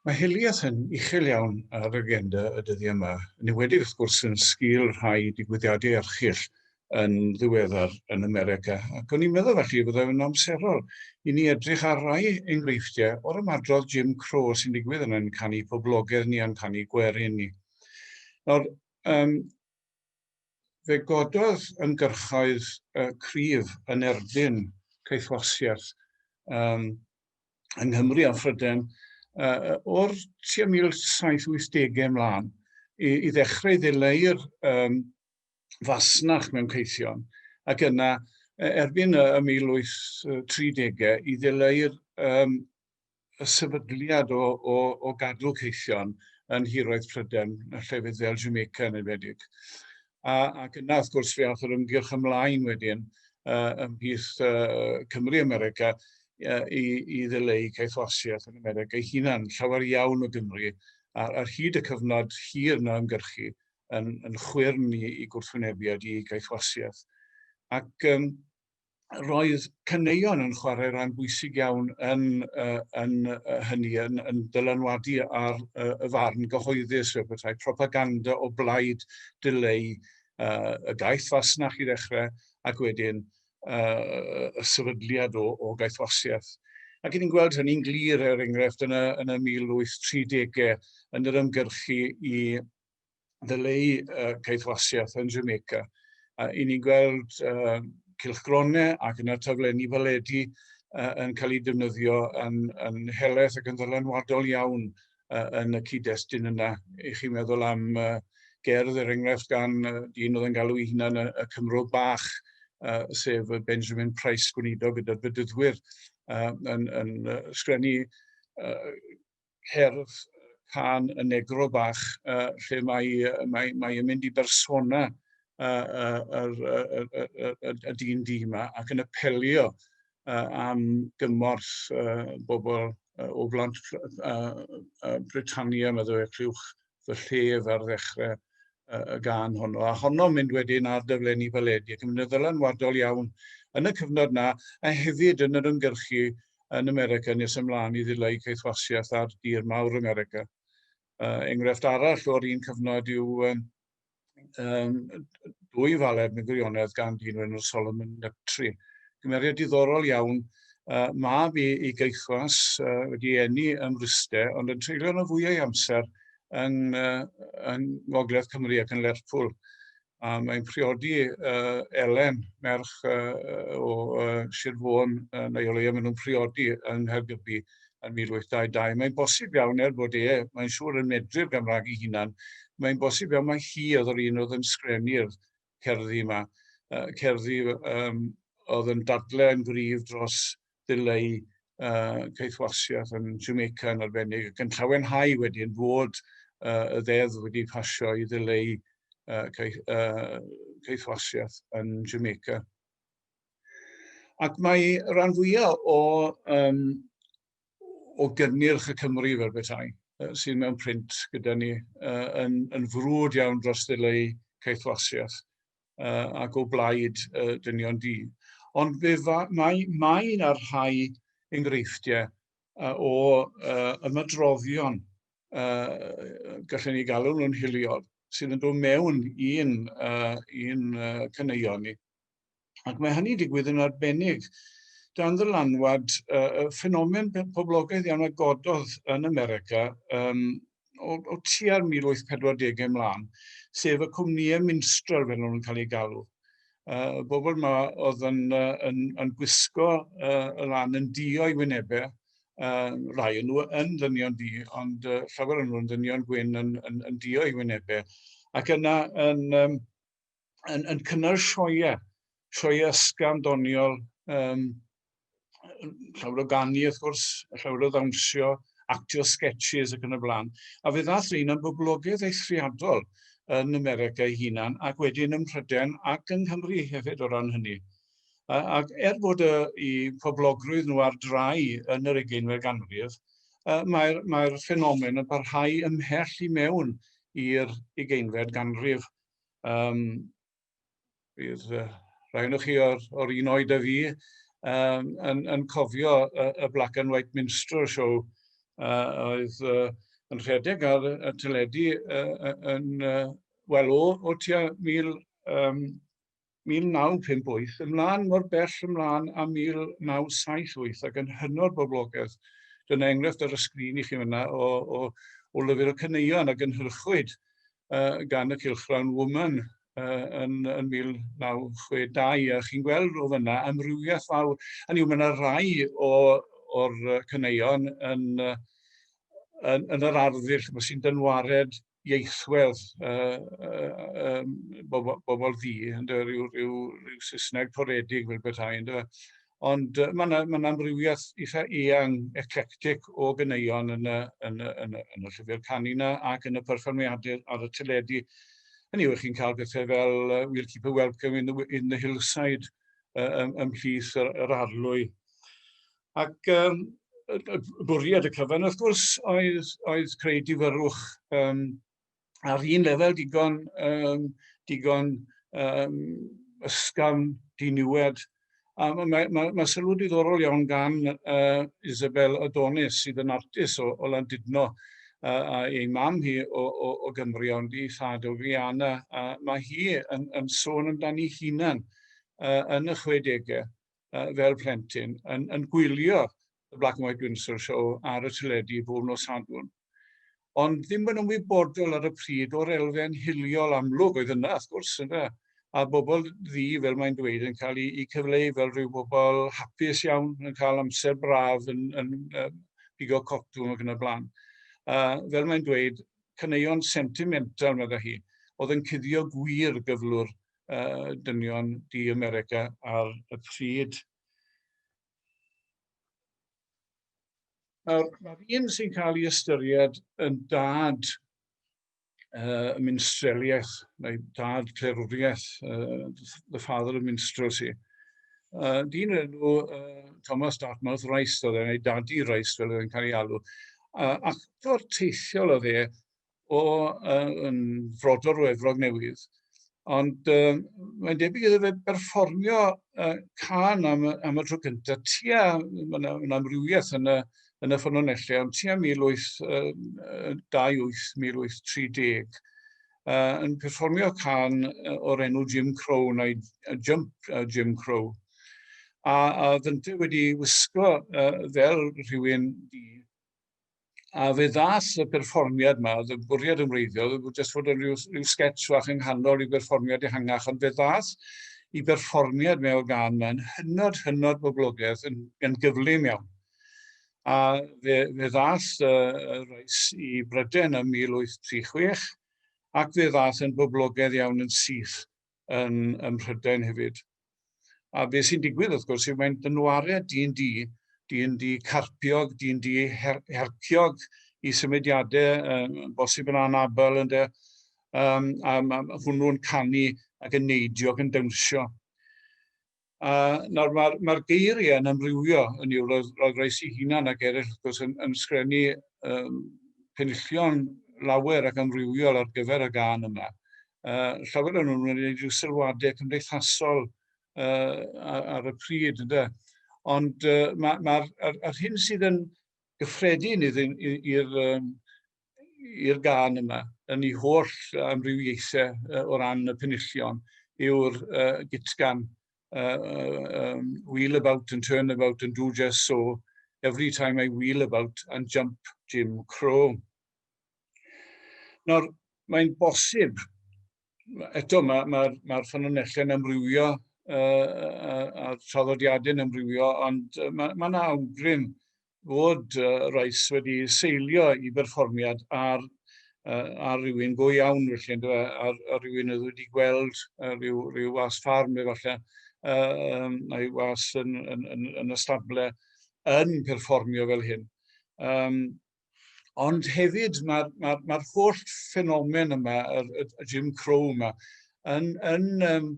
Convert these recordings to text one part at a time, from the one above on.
Mae hiliaeth yn uchel iawn ar agenda y dyddiau yma, yn enwedig wrth gwrs yn sgil rhai digwyddiadau erchyll yn ddiweddar yn America, ac o'n i'n meddwl falle chi fydda yn amserol i ni edrych ar rai enghreifftiau o'r ymadrodd Jim Crow sy'n digwydd yn ein canu poblogaidd ni a'n canu gwerin ni. Nawr, um, fe gododd ymgyrchoedd uh, cryf yn erbyn caethwasiaeth um, yng Nghymru a Phrydain uh, o'r tua 1780au ymlaen i, i ddechrau ddileu'r um, fasnach mewn caethion, ac yna e, erbyn y 1830au i ddileu'r um, y sefydliad o, o, o gadw caethion yn hiroedd Pryden, y llefydd fel Jamaica yn enwedig. A, ac yna, wrth gwrs, fe ath yr ymgyrch ymlaen wedyn uh, ymhlith uh, Cymru America uh, i, i ddileu caethwasiaeth yn America ei hunan, llawer iawn o Gymru, ar, ar hyd y cyfnod hir na ymgyrchu yn, yn chwyrn i, i gwrthwynebiad i gaethwasiaeth. Ac um, roedd caneuon yn chwarae rhan bwysig iawn yn, uh, yn uh, hynny, yn, yn dylanwadu ar uh, y farn gyhoeddus, y bethau propaganda o blaid dileu uh, y gaeth fasnach i ddechrau, ac wedyn uh, y sefydliad o, o gaethwasiaeth. Ac ni'n gweld hynny'n glir, er enghraifft, yn y, yn y 1830au, yn yr ymgyrchu i ddyleu uh, caethwasiaeth yn Jamaica. Uh, I ni'n gweld uh, cylchgronau ac yna taflenni faledu uh, yn cael eu defnyddio yn, yn heleth ac yn ddylanwadol iawn uh, yn y cyd-destun yna. I chi meddwl am uh, gerdd, er enghraifft, gan uh, dyn oedd yn galw ei hunan y, y Cymro Bach, uh, sef Benjamin Price, gwneud o gyda'r bedyddwyr, uh, yn, yn uh, sgrennu uh, cerdd can y negro bach, uh, lle mae, uh, mae, mae yn mynd i bersona y dyn di yma ac yn apelio uh, am gymorth uh, bobl uh, o blant uh, uh, Britannia, meddwl e, clywch fy llef ar ddechrau y gan honno, a honno'n mynd wedyn ar dyflenni baledi, ac yn mynd yn ddylanwadol iawn yn y cyfnod na, a hefyd yn yr ymgyrchu yn America nes ymlaen i ddileu caethwasiaeth ar dir mawr America. Uh, enghraifft arall o'r un cyfnod yw um, um, dwy faled mewn gwirionedd gan dyn o'r enw Solomon Neptri. Cymeriad diddorol iawn, uh, mab i, i geithwas uh, wedi enni ym Mryste, ond yn treulio yna fwyau ei amser yn, uh, yn Ngogledd Cymru ac yn Lerpwl. A mae'n priodi uh, Elen, merch uh, o uh, Sir Fôn, uh, neu o leia maen nhw'n priodi yng Nghaergybi. yn 1822. Mae'n bosib iawn, er bod e, mae'n siŵr, yn medru'r Gymraeg ei hunan, mae'n bosib iawn mai hi oedd yr un oedd yn sgrennu'r cerddi yma, uh, cerddi um, oedd yn dadle yn gryf dros ddileu uh, caethwasiaeth yn Jamaica yn arbennig, ac yn llawenhau wedyn fod uh, y ddeddf wedi pasio i ddileu uh, caeth, uh, caethwasiaeth yn Jamaica. Ac mae rhan fwyaf o, um, o gynnyrch y Cymru fel bethau sydd mewn print gyda ni uh, yn, yn frwd iawn dros ddileu caethwasiaeth uh, ac o blaid uh, dynion di. Ond fe fa, mae, mae yna rhai enghreifftiau uh, o uh, ymadroddion, uh, gallwn ni galw nhw'n hiliol, sydd yn dod mewn i'n uh, un, uh, cyneuon ni. Ac mae hynny'n digwydd yn arbennig dan ddylanwad uh, ffenomen poblogaidd iawn a gododd yn America um, o, o tua'r 1840 ymlaen, sef y cwmnïau minstrel fel nhw'n cael ei galw. Uh, bobl yma oedd yn, uh, yn, yn gwisgo uh, y lan yn dio i wynebau, uh, rai yn nhw yn ddynion di, ond uh, llawer yn nhw'n ddynion gwyn yn, yn, yn dio i wynebau. Ac yna yn, um, yn, yn cynnal sioia, sioia ysgam doniol, um, llawer o ganu wrth gwrs, llawer o ddawnsio, actio sketches ac yn y blaen. A fe ddath rhain yn boblogaidd eithriadol yn America ei hunan ac wedyn ym Mhryden ac yng Nghymru hefyd o ran hynny. Ac er bod y, i poblogrwydd nhw ar drai yn yr egeinfed ganrif, mae'r mae ffenomen yn parhau ymhell i mewn i'r egeinfed ganrif Um, bydd uh, rhai o'n chi o'r, or un oed a fi um, yn, yn cofio y, y Black and White Minstrel Show uh, oedd uh, yn rhedeg ar y teledu uh, yn, uh, wel, o, o tua 1900, um, 1958 ymlaen mor bell ymlaen â 1978 ac yn hynod boblogaidd. Dyna enghraifft ar y sgrin i chi fyna o, o, o lyfr y caneuon a gynhyrchwyd uh, gan y Cylchgrawn Woman uh, yn, yn 1962 a chi'n gweld o fyna amrywiaeth fawr. Hynny yw, mae yna rai o'r caneuon yn, yn, yn yr arddull sy'n dynwared ieithwedd uh, uh, um, bobl, bobl ddi, ynddo, rhyw, rhyw, rhyw Saesneg toredig fel bethau, ynddo. Ond uh, mae'n ma amrywiaeth eitha eang, eclectic o gyneuon yn y, yn y, yn y, yn y llyfr canu yna ac yn y perfformiadau ar y teledu. Yn yw, chi'n cael bethau fel uh, We'll Keep a Welcome in the, in the Hillside uh, ymhlith yr, yr arlwy. Ac um, bwriad y cyfan, wrth gwrs, oedd, oedd creu difyrwch um, ar un lefel digon, um, digon um, ysgafn diniwed. A mae, mae, mae, mae sylw diddorol iawn gan uh, Isabel Adonis, sydd yn artis o, o Landudno, a ei mam hi o, o, o Gymru, ond ei thad o Guyana. A mae hi yn, yn sôn amdani hunan uh, yn y 60au uh, fel plentyn yn, yn gwylio y Black and White Windsor Show ar y teledu bob nos Sadwrn. Ond ddim yn ymwybodol ar y pryd o'r elfen hiliol amlwg oedd yna, wrth gwrs, yna. A bobl ddi, fel mae'n dweud, yn cael ei cyfleu fel rhyw bobl hapus iawn, yn cael amser braf, yn, yn, yn pigo cotwm ac yn y blaen. Uh, fel mae'n dweud, caneuon sentimental, meddai hi, oedd yn cuddio gwir gyflwr uh, dynion di America ar y pryd. Nawr, mae'r un sy'n cael ei ystyried yn dad uh, minstreliaeth, neu dad clerwriaeth, uh, the father of minstrelsy. Uh, dyn enw uh, Thomas Dartmouth Rice, oedd e'n ei dadu Rice fel oedd e'n cael ei alw. Uh, ac o'r teithiol oedd e, o uh, yn frodor o Efrog Newydd, ond uh, mae'n debyg iddo fe berfformio uh, can am, am y tro cyntaf tua, mae yna ma amrywiaeth yn y, yn y ffynonellau, ond tua 1828-1830, uh, yn perfformio can o'r enw Jim Crow neu uh, Jump uh, Jim Crow. A, a ddynte wedi wisgo uh, fel rhywun di A fe ddaeth y perfformiad yma, oedd y bwriad yn wreiddiol, oedd jyst fod yn rhyw, rhyw sketch fach yng nghanol i berfformiad ehangach, ond fe ddaeth i berfformiad mewn gan yma'n hynod, hynod boblogaidd yn, yn gyflym iawn. A fe, fe ddaeth y, y reis i Bryden ym 1836 ac fe ddaeth yn boblogaidd iawn yn syth yn, yn Mhrydain hefyd. A be sy'n digwydd wrth gwrs yw mae'n dynwariad D&D, D&D carpiog, D&D her herciog i symudiadau, um, bosib yn anabel ynddo, um, a mae hwnnw'n canu ac yn neidio ac yn dawnsio. A nawr mae'r ma geiriau yn amrywio yn yw, roedd, roedd reis i hunan ac eraill wrth gwrs yn, yn sgrennu um, penillion lawer ac amrywiol ar gyfer y gan yma. Uh, llawer o'n nhw'n gwneud rhyw sylwadau cymdeithasol uh, ar, ar y pryd, ynddo. Ond uh, mae'r ma, ma, hyn sydd yn gyffredin i'r um, i'r gan yma, yn ei holl amrywiaethau uh, o ran y penillion, yw'r uh, gitgan uh, um, wheel about and turn about and do just so every time I wheel about and jump Jim Crow. Nawr, mae'n bosib, eto mae'r ma, ma, ma ffynonellau yn amrywio uh, a'r traddodiadau'n amrywio, ond mae yna ma awgrym fod uh, Rice wedi seilio i berfformiad ar, uh, ar rywun go iawn, felly, ynddo, ar, ar rywun oedd wedi gweld uh, rhyw, rhyw was ffarm efallai, uh, um, neu was yn, yn, yn, yn y stable yn perfformio fel hyn. Um, ond hefyd mae'r ma, ma, ma holl ffenomen yma, y, y, y Jim Crow yma, yn, yn, um,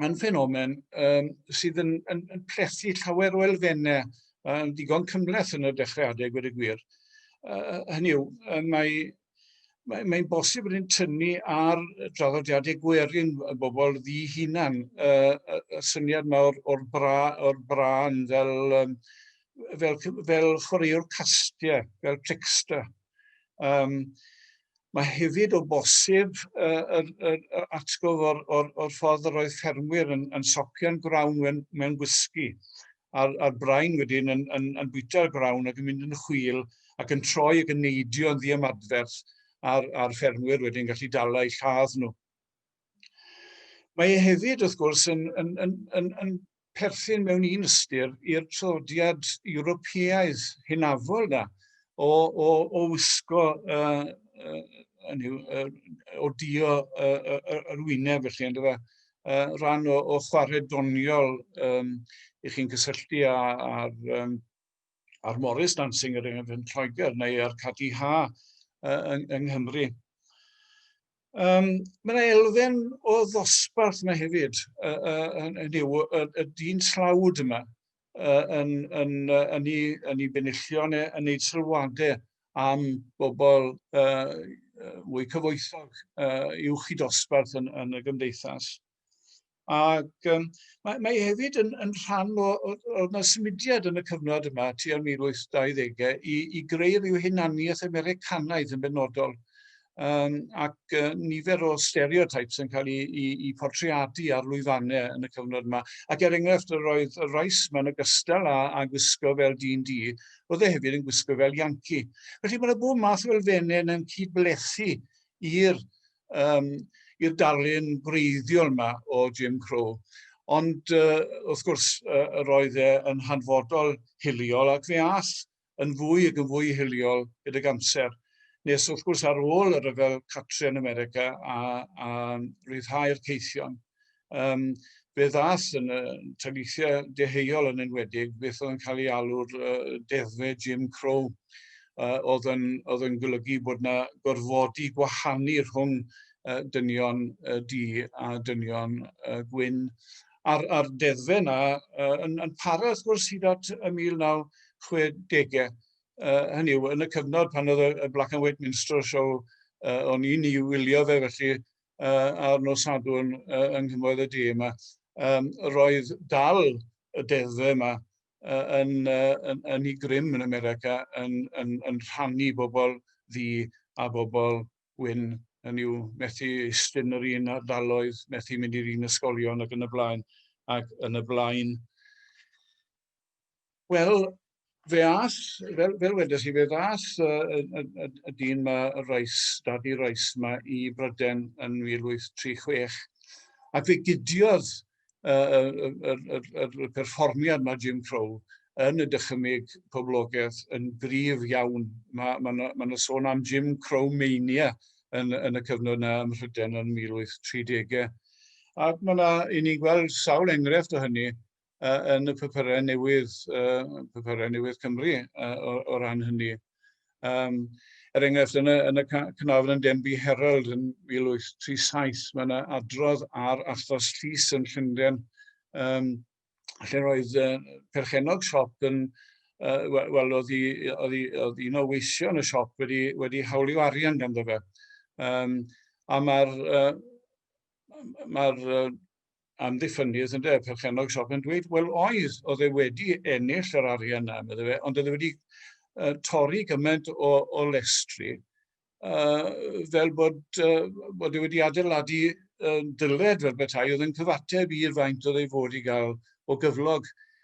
mae'n ffenomen um, sydd yn, yn, yn plethu llawer o elfennau um, digon cymleth yn y dechrau adeg wedi gwir. Uh, hynny yw, uh, mae mae'n mae bosib yn tynnu ar draddodiadau gwerin y bobl ddi hunan, y, y, y syniad yma o'r, or bra, or bran fel, um, fel, fel chwaraewr castiau, fel trickster, Um, mae hefyd o bosib uh, yr, yr, yr atgof o'r, or, or ffordd yr oedd ffermwyr yn, yn socio'n grawn mewn, mewn gwisgi a'r, ar brain wedyn yn, yn, yn bwyta'r grawn ac yn mynd yn chwil ac yn troi ac yn neidio yn ddiymadferth a'r, ar ffermwyr wedyn gallu dala eu lladd nhw. Mae e hefyd, wrth gwrs, yn, yn, yn, yn, yn perthyn mewn un ystyr i'r traddodiad Ewropeaidd hynafol da, o, o, o wisgo, uh, uh, yw, uh, o dio uh, uh, yr wyneb felly, ynddo fe, uh, rhan o, o chwarae doniol um, i chi'n cysylltu â'r um, a'r Morris Dancing er enghraifft yn Lloegr neu a'r Cadi Ha yng, yng Nghymru. Um, mae yna elfen o ddosbarth yna hefyd, uh, uh, yn, yn yw y, y dyn slawd yma, uh, yn, yn, uh, yn, ei, yn ei benillio neu yn ei sylwadau am bobl uh, fwy cyfoethog uh, i'w chi dosbarth yn, yn y gymdeithas. Ac yym mae mae hefyd yn yn rhan o o o 'na symudiad yn y cyfnod yma tua'r 1820au i i greu ryw hunaniaeth Americanaidd yn benodol. Yym ac yy nifer o stereotypes yn cael 'u 'u 'u portreadu ar lwyfanne yn y cyfnod yma. Ac er enghraifft yr oedd y Rice 'ma yn ogystal â â gwisgo fel dyn du, roedd e hefyd yn gwisgo fel Yankee. Felly ma' 'na bob math o elfenne yna'n cyd-blethu i'r um, i'r darlun gwreiddiol yma o Jim Crow. Ond uh, wrth gwrs, uh, roedd e yn hanfodol hiliol ac fe all yn fwy ac yn fwy hiliol gydag amser. Nes wrth gwrs ar ôl y rhyfel Catrin America a, a rhyddhau'r ceithion, um, fe ddas yn y taleithiau deheuol yn enwedig beth oedd yn cael ei alw'r uh, deddfe Jim Crow uh, oedd, yn, oedd yn golygu bod yna gorfodi gwahanu rhwng uh, dynion uh, di a dynion uh, gwyn. A'r, ar deddfe yna uh, yn, yn para wrth gwrs hyd at y 1960au. Uh, hynny yw, yn y cyfnod pan oedd y Black and White Minstrel Show, uh, o'n i'n ei wylio fe, felly ar nos Sadwrn yng Nghynwedd y De yma, um, roedd dal y deddfe yma yn, yn, yn ei grym yn America yn, yn, yn rhannu bobl ddi a bobl gwyn yn yw methu istyn yr un ardaloedd, methu mynd i'r un ysgolion ac yn y blaen ac yn y blaen. Wel, fe ath, fel, fel wedes i, fe ddath y, y, y, y dyn yma, y Rice, Daddy Rice yma, i Bryden yn 1836, ac fe gudiodd y, y, y, y, y, y perfformiad mae Jim Crow yn y dychymyg poblogaeth yn gryf iawn. Mae yna ma ma, ma sôn am Jim Crow Mania yn, yn y cyfnod yna ym Mhryden yn 1830au. Ac mae yna, i ni'n gweld sawl enghraifft o hynny uh, yn y papurau newydd, uh, papurau newydd Cymru uh, o, o ran hynny. Um, er enghraifft, yn y, yn y Cynafon yn Denby Herald yn 1837, mae yna adrodd ar achos llys yn Llundain, um, lle roedd uh, perchenog siop yn, uh, wel, oedd, i, oedd, i, oedd un o weithio yn y siop wedi, wedi hawlio arian ganddo fe. Um, a mae'r uh, mae'r uh, amddiffynnydd ynde, perchennog siop yn dweud, wel oedd, oedd e wedi ennill yr arian yna, medde fe, ond oedd e wedi uh, torri gymaint o, o lestri, uh, fel bod, uh, bod e wedi adeiladu uh, dyled fel bethau oedd yn cyfateb i'r faint oedd ei fod i gael o gyflog.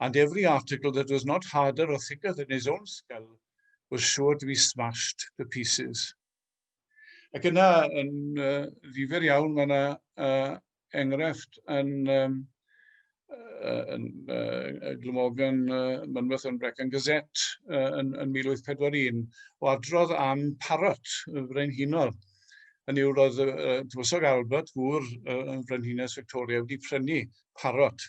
and every article that was not harder or thicker than his own skull was sure to be smashed to pieces. Ac yna, yn uh, ddifur iawn, mae yna uh, enghraifft yn, um, uh, yn uh, Glymogan uh, Mynweth yn Brecan Gazette uh, yn, yn 1841 o adrodd am Parrot, y frenhinol. Yn yw, roedd uh, Tywysog Albert, gŵr uh, yn frenhines Victoria, wedi prynu Parrot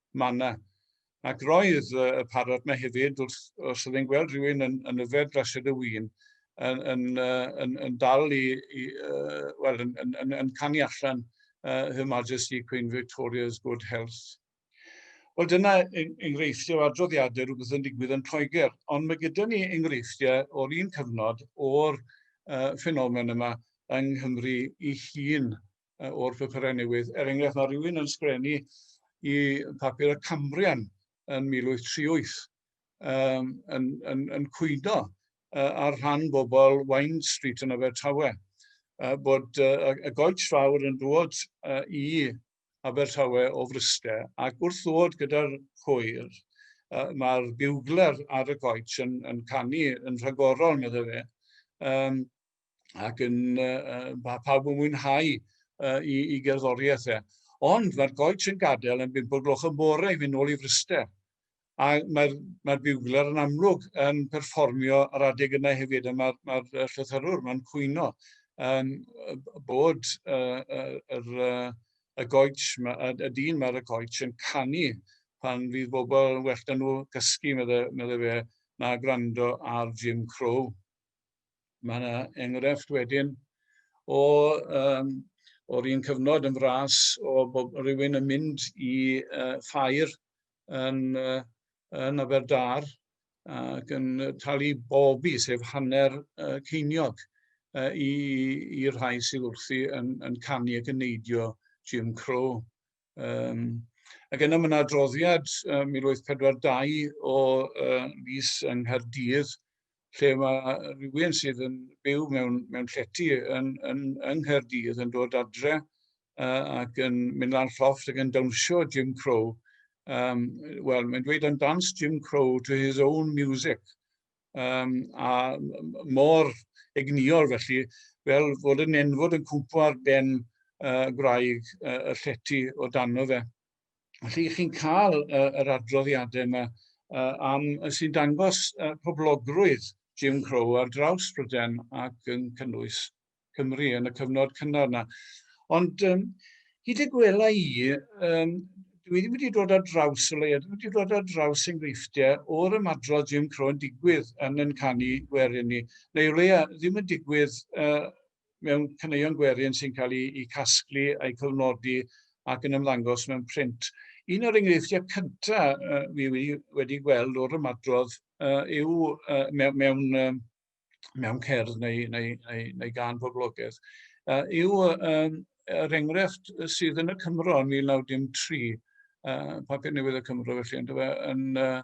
Manna. Ac roedd y parod yma hefyd, wrth, os oedd e'n gweld rhywun yn, yn yfed glased y win, yn, yn, yn, yn dal i, i uh, well, yn, yn, yn, yn canu allan uh, Her Majesty Queen Victoria's Good Health. Wel, dyna enghreifftiau o adroddiadau rhywbeth yn digwydd yn Lloegr, ond mae gyda ni enghreifftiau o'r un cyfnod o'r uh, ffenomen yma yng Nghymru i hun o'r llythyrau newydd. Er enghraifft, mae rhywun yn sgrenu i papur y Cambrian yn 1838 um, yn, yn, yn cwydo uh, ar rhan bobl Wine Street yn Abertawe, uh, bod uh, y goets fawr yn dod uh, i Abertawe o Fryste ac wrth ddod gyda'r hwyr, uh, mae'r biwgler ar y goets yn, yn canu yn rhagorol, meddwl fe, um, ac yn uh, pa, pawb yn mwynhau uh, i, i gerddoriaeth e. Ond mae'r goets yn gadael yn bimp o gloch yn bore i fynd ôl i Fryster. A mae'r mae biwgler yn amlwg yn perfformio ar adeg yna hefyd, a mae'r mae, mae llythyrwr, mae'n cwyno um, bod uh, uh, yr, uh, y goets, y, y dyn mae'r y goets yn canu pan fydd bobl yn well nhw gysgu, meddai, meddai fe, na gwrando ar Jim Crow. Mae yna enghraifft wedyn o, um, o'r un cyfnod yn fras o bob rhywun yn mynd i uh, ffair yn, uh, yn Aberdâr ac yn talu bobi, sef hanner uh, ceiniog, uh, i'r rhai sydd wrthi yn, yn canu ac yn neidio Jim Crow. Um, ac yna mae yna adroddiad um, 1842 o uh, Lys yng Nghaerdydd, lle mae rhywun sydd yn byw mewn, mewn llety yn, yn, yng Nghaerdydd yn dod adre uh, ac yn mynd lan llofft ac yn dawnsio Jim Crow. Um, Wel, mae'n dweud dan dance Jim Crow to his own music. um, a mor egnïol felly, fel fod yn enfod yn cwmpo ar ben uh, gwraig uh, y llety o dano fe. Felly chi'n cael uh, yr adroddiadau yma uh, am sy'n dangos uh, poblogrwydd Jim Crow ar draws Bryden ac yn cynnwys Cymru yn y cyfnod cynnar yna. Ond um, hyd y gwela i, um, dwi ddim wedi dod ar draws o leia, dwi wedi dod ar draws enghreifftiau o'r ymadrodd Jim Crow yn digwydd yn yn canu gwerin ni, neu o leia ddim yn digwydd uh, mewn caneuon gwerin sy'n cael ei, ei casglu a'i cyfnodi ac yn ymddangos mewn print. Un o'r enghreifftiau cyntaf uh, fi wedi, wedi gweld o'r ymadrodd uh, yw uh, mewn, mewn uh, mewn cerdd neu, neu, neu, neu gan boblogaeth, uh, yw um, yr enghraifft sydd yn y Cymro yn 1913, uh, papur newydd y Cymro felly, yn, e, yn, uh,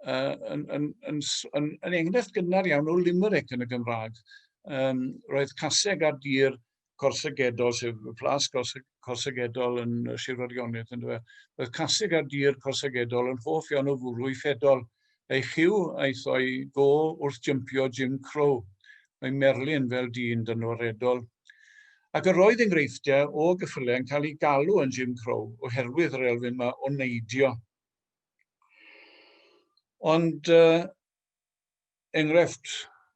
uh, yn, yn, yn, yn, yn enghraifft gynnar iawn o limerick yn y Gymraeg. Um, roedd caseg ar dir corsygedol, sef y plas corsygedol yn Sir Fodgionydd, yn dweud, roedd casig ar dir corsygedol yn hoff iawn o fwrw i ffedol, ei chyw aeth o'i go wrth jympio Jim Crow. Mae Merlin fel dyn dynoredol. Ac yr oedd enghreifftiau o gyffylau yn cael ei galw yn Jim Crow oherwydd yr elfyn yma o neidio. Ond uh, enghraifft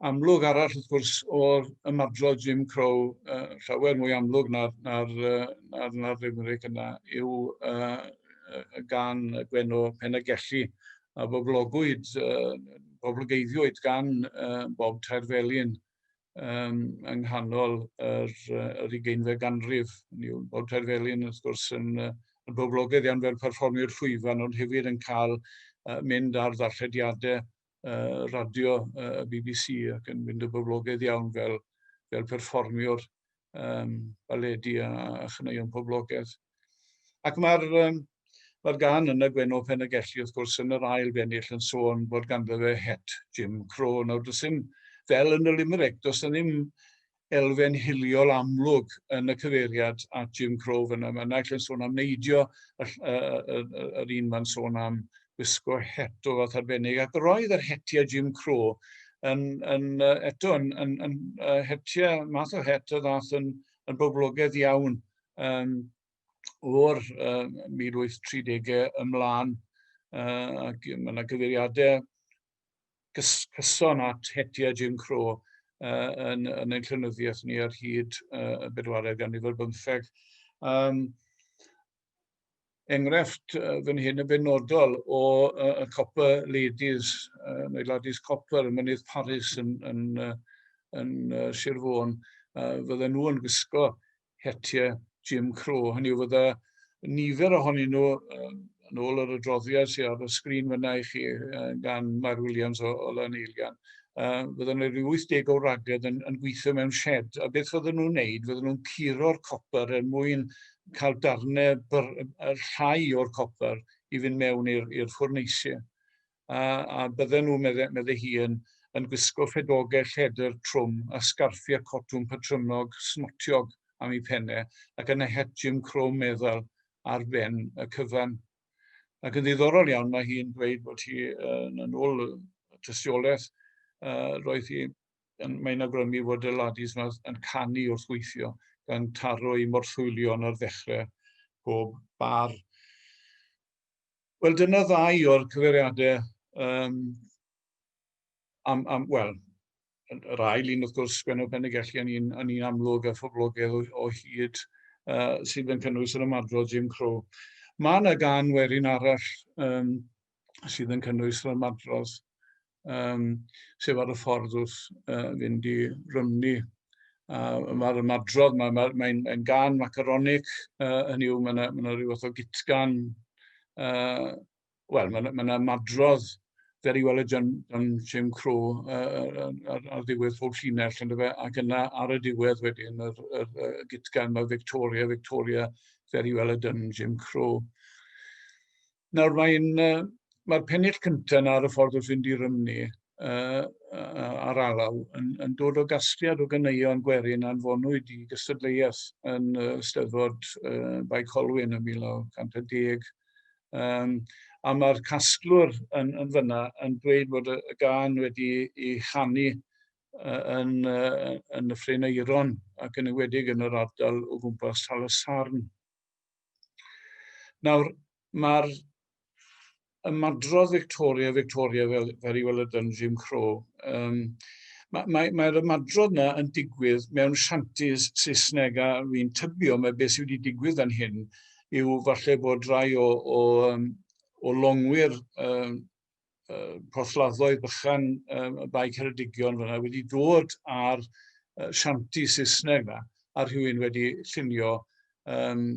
amlwg arall wrth gwrs o'r ymadrodd Jim Crow uh, llawer mwy amlwg na'r, na'r, na'r, na'r limeric yna yw uh, gan Gwenno Penagelli a boblogwyd, uh, boblogeiddiwyd gan uh, Bob Tairfelin um, yng nghanol yr, yr ugeinfed ganrif. Yw, Bob Tairfelin wrth gwrs yn, yn boblogaidd iawn fel perfformiwr llwyfan ond hefyd yn cael uh, mynd ar ddarllediadau uh, radio uh, y BBC ac yn mynd o boblogaidd iawn fel, fel perfformiwr um, baledi a, a chyneuon poblogaeth. Ac mae'r um, mae gan yn y Gwenno Penegelli, wrth gwrs, yn yr ail bennill yn sôn bod ganddo fe het Jim Crow. Nawr, does dim, fel yn y Limerick, does na ddim elfen hiliol amlwg yn y cyfeiriad at Jim Crow fyna. Mae naill yn sôn am neidio, yr un mae'n sôn am wisgo het o fath arbennig, ac roedd yr hetiau Jim Crow yn, yn eto yn, yn, yn, yn hetiau math o het y ddath yn, yn boblogaidd iawn um, o'r uh, 1830au ymlaen, uh, ac mae yna gyfeiriadau cyson at hetiau Jim Crow uh, yn, yn ein llynyddiaeth ni ar hyd uh, y bedwaredd ganrif ar bymtheg. Um, enghraifft uh, fan hyn yn benodol o uh, y Copper Ladies, uh, neu Ladies Copper, yn mynydd Paris yn, yn, uh, yn uh, Sir Fôn, uh, fydden nhw yn gwisgo hetiau Jim Crow. Hynny yw, fydda nifer ohonyn nhw, yn ôl yr adroddiad sydd ar y sgrin fyna i chi gan Mair Williams o, o Lan Eilian, uh, fydda nhw rhyw 80 o ragedd yn, yn gweithio mewn shed. A beth fydda nhw'n wneud? Fydda nhw'n curo'r copper er mwyn cael darnau llai o'r copper i fynd mewn i'r ffwrneisiau. a, a bydden nhw, meddai, meddai hi, yn, yn gwisgo ffedogau lledr trwm a sgarffiau cotwm patrymnog smotiog am ei penne ac yna het Jim Crow meddal ar ben y cyfan. Ac yn ddiddorol iawn, mae hi'n dweud bod hi yn, yn ôl y tystiolaeth, uh, roedd hi, mae'n agrymu fod y ladis yma yn canu wrth weithio, gan taro i morthwylion ar ddechrau pob bar. Wel, dyna ddau o'r cyfeiriadau um, am, am wel, yr ail un wrth gwrs Gwenno Penegelli yn un, yn un amlwg a phoblogaidd o, o hyd uh, sydd yn cynnwys yr ymadrodd Jim Crow. Mae yna gan werin arall um, sydd yn cynnwys yr ymadrodd um, sef ar y ffordd wrth uh, fynd i Rymni. Uh, Mae'r ymadrodd, mae'n mae, mae, mae gan macaronic, uh, hynny yw, mae yna ma rhyw fath o gitgan, uh, wel, mae yna madrodd fer i weld John, John Jim Crow uh, ar, ar ddiwedd pob llinell, ynddo fe, ac yna ar y diwedd wedyn, yr, yr, yr gitgan mae Victoria, Victoria, fer i weld John Jim Crow. Nawr mae'n uh, mae'r pennill cyntaf yna ar y ffordd wrth fynd i Rymni uh, ar alaw yn, yn dod o gasgliad o ganeuon gwerin anfonwyd i gystadleuaeth yn uh, Steddfod uh, Bae Colwyn yn 1910. Um, a mae'r casglwr yn, yn fyna yn dweud bod y, y gan wedi ei chanu uh, yn, uh, yn y Ffryn Eiron ac yn ywedig yn yr ardal o gwmpas Tal y Sarn. Nawr, mae'r ymadrodd Victoria, Victoria fel, fel i weld yn Jim Crow, um, mae'r mae, mae ymadrodd yna yn digwydd mewn shantis Saesneg a fi'n tybio mae beth sydd wedi digwydd yn hyn yw falle bod rhai o, o, um, o longwyr um, uh, porthladdoedd bychan um, y Bae Ceredigion fyna wedi dod ar uh, sianti Saesneg na, a rhywun wedi llunio um,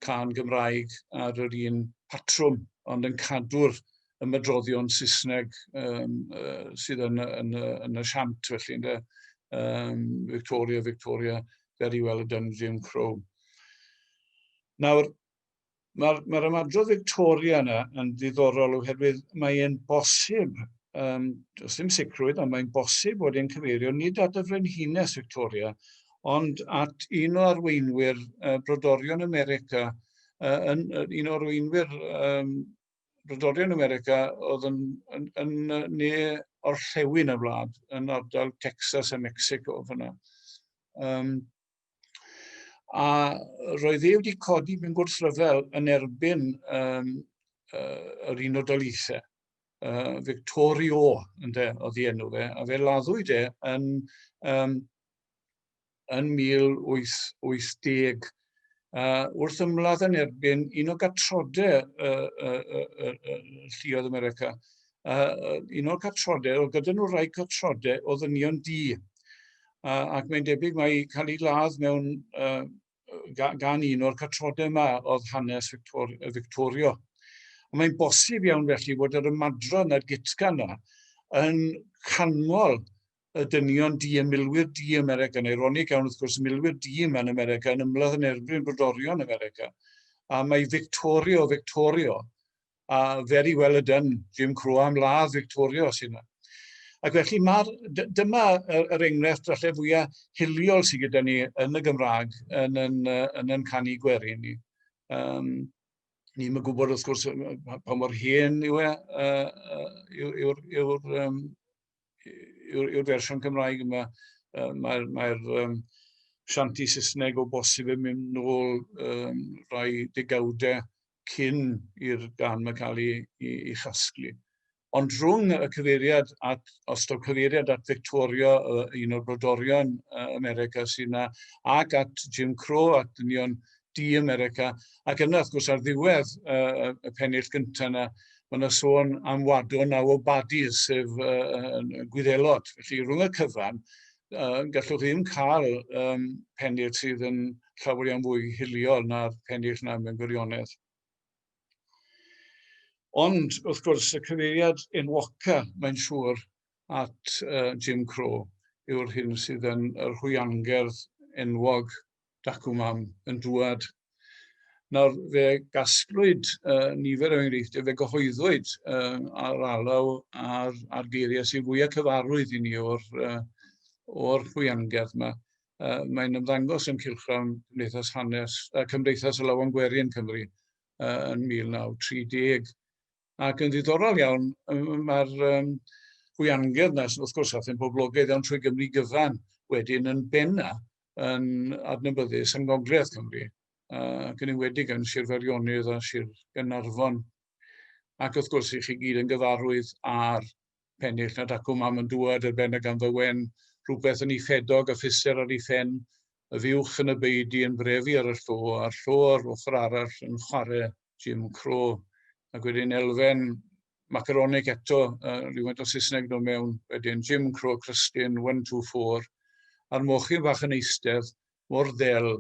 can Gymraeg ar yr un patrwm, ond yn cadw'r ymedroddion Saesneg um, uh, sydd yn, yn, yn, yn y siant, felly, ynddo, um, Victoria, Victoria, very well done, Jim Crow. Nawr, Mae'r mae ymadrodd Victoria yna yn ddiddorol oherwydd mae e'n bosib, um, does dim sicrwydd, ond mae'n bosib bod e'n cyfeirio nid at y frenhines Victoria, ond at un o arweinwyr uh, brodorion America, uh, yn, un o arweinwyr um, brodorion America oedd yn, yn, yn, yn ne orllewin y wlad, yn ardal Texas a Mexico fyna. Um, A roedd e wedi codi mewn gwrthryfel yn erbyn um, uh, yr un o daleithiau, uh, Victorio, ynde, oedd ei enw fe, a fe laddwyd e yn, um, yn 1880 uh, wrth ymladd yn erbyn un o gatrodau uh, uh, uh, uh, Llioedd America, uh, un o'r catrodau, oedd gyda nhw rai catrodau o ddynion di. Uh, ac mae'n debyg mae cael ei ladd mewn uh, gan un o'r catrodau yma oedd hanes Victor, Victorio. Ond mae'n bosib iawn felly bod yr ymadron a'r gitga yna yn canmol y dynion di, y milwyr di yn America, neu ronig iawn wrth gwrs, y milwyr di yma yn America, yn ymladd yn erbyn brodorion America. A mae Victorio, Victorio, a very well a done, Jim Crow am ladd Victoria os yna. Ac felly mae'r, dyma yr enghraifft falle fwyaf hiliol sydd gyda ni yn y Gymraeg yn yn, yn, yn canu gwerin ni. Um, ni'n mynd gwybod wrth gwrs pa mor hen yw e, uh, yw'r yw, yw, um, yw, yw fersiwn Cymraeg yma. Uh, Mae'r mae, mae um, sianti Saesneg o bosib yn mynd nôl um, rhai degawdau cyn i'r gan yma cael ei, ei, ei chasglu. Ond rhwng y cyfeiriad at, os taw cyfeiriad at Victoria, un o'r brodorion America sy'n yna, ac at Jim Crow, at dynion di America, ac yna, wrth gwrs, ar ddiwedd uh, y pennill gyntaf yna, mae yna sôn am wadwn a o badi, sef uh, gwyddelod. Felly, rhwng y cyfan, uh, gallwch chi ddim cael um, pennill sydd yn llawer iawn fwy hiliol na'r pennill na mewn gwirionedd. Ond, wrth gwrs, y cyfeiriad enwoca, mae'n siŵr, at uh, Jim Crow yw'r hyn sydd yn yr hwyangerdd enwog dacw mam yn dwad. Nawr, fe gasglwyd uh, nifer o enghreifftiau, fe gyhoeddwyd uh, ar alaw ar, ar geiriau sy'n fwyaf cyfarwydd i ni o'r, uh, o'r chwiangerdd yma. Uh, mae'n ymddangos yn Cilchrawn Cymdeithas Hanes, uh, Cymdeithas y Lawan Gwerin Cymru uh, yn 1930. Ac yn ddiddorol iawn, mae'r um, hwiangedd yna, wrth gwrs, a thyn poblogaidd iawn trwy Gymru gyfan, wedyn yn benna yn adnabyddus yn Gogledd Cymru, uh, ac yn enwedig yn Sir Ferionydd a Sir Gynarfon. Ac wrth gwrs, i chi gyd yn gyfarwydd ar pennill na dacw mam yn dŵad ar ben y ganddo wen, rhywbeth yn ei ffedog a physer ar ei phen, y fuwch yn y beudy yn brefu ar y llo, a'r llo ar ochr arall yn chwarae Jim Cro. Ac wedyn elfen macaronic eto, uh, rhywfaint o Saesneg dod mewn, wedyn Jim Cro, Crystin, 1, 2, 4, a'r mochyn fach yn eistedd mor ddel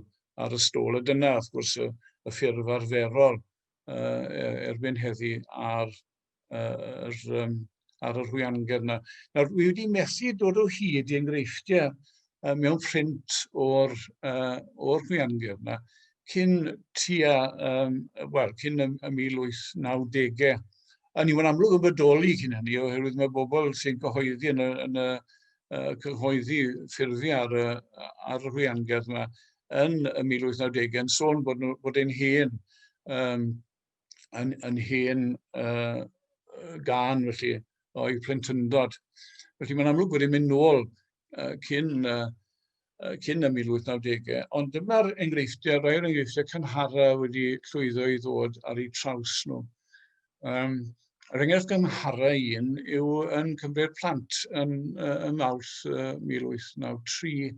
ar y stôl. A dyna, wrth gwrs, y, y ffurf arferol uh, erbyn heddi ar yr, um, ar yr hwyangyr yna. Nawr, wi wedi methu dod o hyd i enghreifftiau uh, mewn print o'r, uh, or hwyangyr yna cyn tua, um, wel, cyn y, y 1890au. A ni wedi amlwg yn bodoli cyn hynny, oherwydd mae bobl sy'n cyhoeddi yn y, yn y uh, cyhoeddi ffurfi ar, y, ar yr hwyangyr yna yn y 1890 yn sôn bod, bod ein hen um, yn, yn hen uh, gan, felly, o'i plentyndod. Felly mae'n amlwg bod yn mynd nôl uh, cyn, uh, cyn y 1890au, ond dyma'r enghreifftiau, rhai o'r enghreifftiau cynhara wedi llwyddo i ddod ar eu traws nhw. Um, Yr enghraifft gynharaf un yw yn Cymru'r Plant yn, uh, ym Mawrth uh, 1893,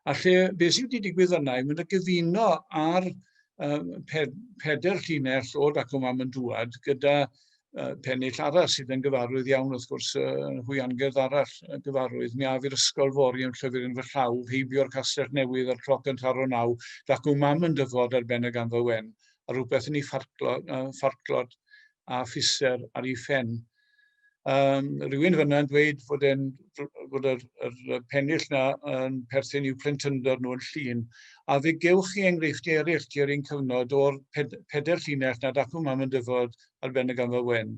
a lle beth sydd wedi digwydd yna yw mynd y gyfuno ar um, pe peder llinell o dacw mam yn dŵad gyda uh, pennill arall sydd yn gyfarwydd iawn wrth gwrs uh, hwy angerdd arall uh, gyfarwydd. Mi af i'r ysgol fori yn llyfr yn fy llaw, heibio'r castell newydd a'r cloc yn taro naw, dacw mam yn dyfod ar ben y gamfa wen, a rhywbeth yn ei ffarclod a physer ar ei phen. Um, rhywun fyna yn dweud fod, en, fod yr, yr pennill na yn perthyn i'w plentyndod nhw'n llun. A fe gewch chi enghreifftiau eraill tua'r un cyfnod o'r ped, peder llinell nad acw mam yn dyfod ar ben y gamfa wen.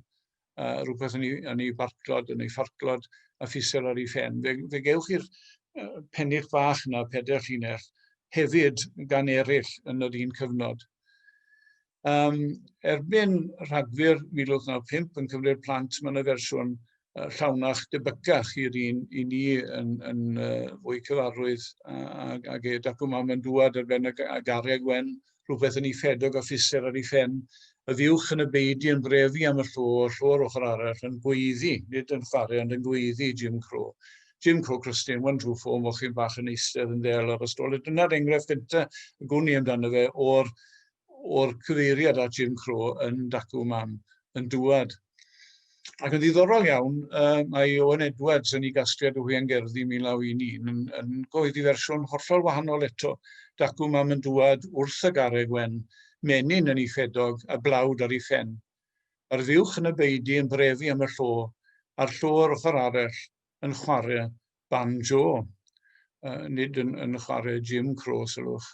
uh, rhywbeth yn ei, yn ei farclod, yn ei farclod, a ffisel ar ei ffen. Fe, fe gewch chi'r uh, pennych bach yna, pedair llinell, hefyd gan eraill yn yr un cyfnod. Um, erbyn rhagfyr 1995 yn cyfri'r plant, mae yna fersiwn uh, llawnach debycach i'r un i ni yn, yn uh, fwy cyfarwydd ag, ag e. Dacw mam yn dŵad ar ben y, y gariad wen, uh, rhywbeth yn ei ffedog a physer ar ei phen, y fuwch yn y beudy yn brefu am y llo, y llo yr ochr arall yn gweiddi, nid yn chwarae ond yn gweiddi, Jim Crow. Jim Crow Christian, one true four, mochyn bach yn eistedd yn ddel ar y stolet. Dyna'r enghraifft gyntaf y gwn i amdano fe o'r o'r cyfeiriad at Jim Crow yn Dacw Mam yn dŵad Ac yn ddiddorol iawn, uh, mae Owen Edwards yn ei gasgliad o Hwian Gerddi 1911 yn, yn goeddi fersiwn hollol wahanol eto. Dacw mam yn dŵad wrth y garreg wen, menyn yn ei ffedog a blawd ar ei phen. Mae'r fuwch yn y beidi yn brefu am y llo, a'r llo yr ochr arell yn chwarae banjo, uh, nid yn, yn chwarae Jim Crow, sylwch.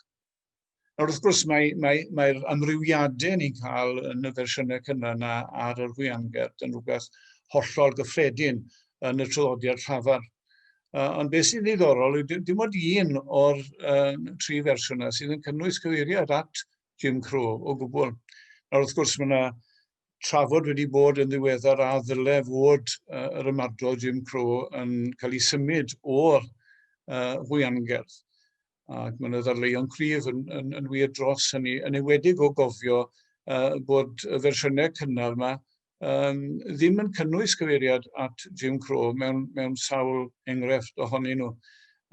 Nawr, wrth gwrs, mae'r mae, mae, mae amrywiadau ni'n cael yn y fersiynau cynnar yna ar yr hwianger. Dyna'n rhywbeth hollol gyffredin yn y traddodiad llafar. Uh, ond beth sy'n ddiddorol yw dim, dim ond un o'r uh, tri fersiwn yna sydd yn cynnwys cyfeiriad at Jim Crow o gwbl. Nawr wrth gwrs mae yna trafod wedi bod yn ddiweddar a ddyle fod uh, yr ymadrodd Jim Crow yn cael ei symud o'r uh, hwyangerdd. Ac mae yna ddarleuon cryf yn, yn, yn wir dros hynny, yn ewedig o gofio uh, bod y fersiynau cynnar yma um, ddim yn cynnwys cyfeiriad at Jim Crow mewn, mewn sawl enghraifft ohonyn nhw.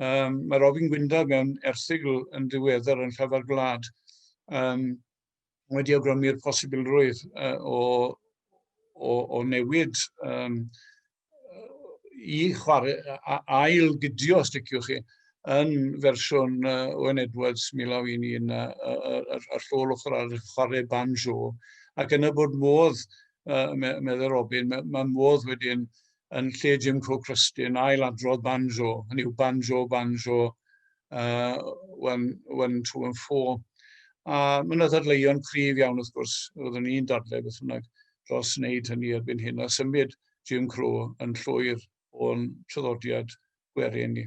Um, mae Robin Gwynda mewn erthigl yn ddiweddar yn Llafar Gwlad um, wedi awgrymu'r posibilrwydd uh, o, o, o newid um, i chwarae ail gydio, os diciwch chi, yn fersiwn uh, Owen Edwards 1911 uh, yr, yr llôl ochr ar chwarae banjo. Ac yna bod modd, uh, meddwl Robin, mae, mae modd wedyn yn lle Jim Cook Rustin, ail adrodd banjo, hynny yw banjo, banjo, uh, one, one, two and four. A mae yna ddadleuon cryf iawn wrth gwrs, roeddwn i'n dadle beth bynnag dros wneud hynny erbyn hyn, a symud Jim Crow yn llwyr o'n traddodiad gwerin ni.